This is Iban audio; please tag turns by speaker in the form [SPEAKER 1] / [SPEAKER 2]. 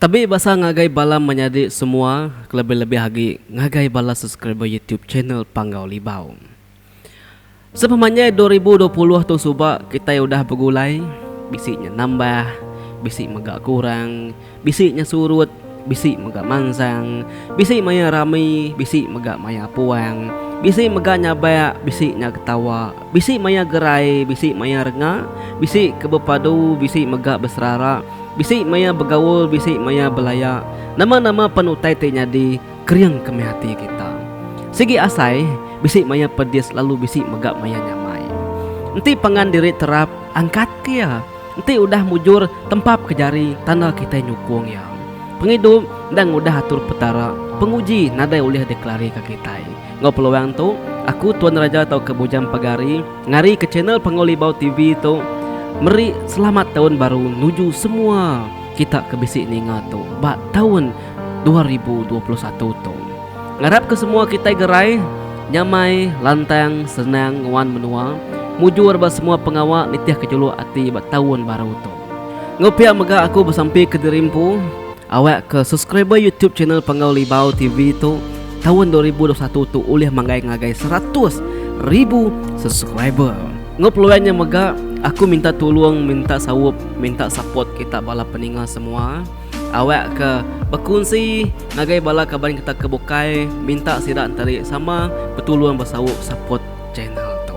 [SPEAKER 1] Tabi basa ngagai bala menyadi semua kelebih-lebih agi ngagai bala subscriber youtube channel Panggau Libau. Sepemanjai dua ribu dua puluh tu suba kitai udah begulai, bisi nya nambah, bisi mega kurang, bisi nya surut, bisi mega mansang, bisi maya rami, bisi mega maya puang, bisi mega nyabak, bisi nya ketawa, Bisi maya gerai, bisi maya renga, bisi ke bepadu, bisi mega beserara, bisi maya begaul, bisi maya belaya. Nama-nama pen utai ti nyadi, kering ke meh ati kita. Sigi asai, bisi maya pedis lalu bisi mega maya nyamai. Enti pangan diri terap, angkat ke iya. Enti udah mujur, tempap ke jari tanda kitai nyukung iya. Pengidup enda ngudah atur Petara, penguji nadai ulih dikelarika kitai. Enggau peluang tu, aku Tuan Raja tauka Bujang Pagari ngarika channel Panguli Bau TV tu meri selamat taun baru nuju semua kita ke bisi ninga tu ba taun dua ribu dua puluh satu tu. Ngarapka semua kitai gerai nyamai, lantang, senang nguan menua, mujur ba semua pengawa nitihka juluk ati ba taun baru tu. Enggau pia mega aku besampika diri empu. Awak ke subscriber YouTube channel Penggau Libau TV tu taun dua ribu dua satu tu ulih manggai ngagai seratus ribu subscriber. Enggau peluang nya mega, aku minta tulung, minta saup, minta support kita bala peninga semua. Awak ke bekunsi ngagai bala kaban kita ke bukai, minta sida nteri sama betulung besaup support channel tu.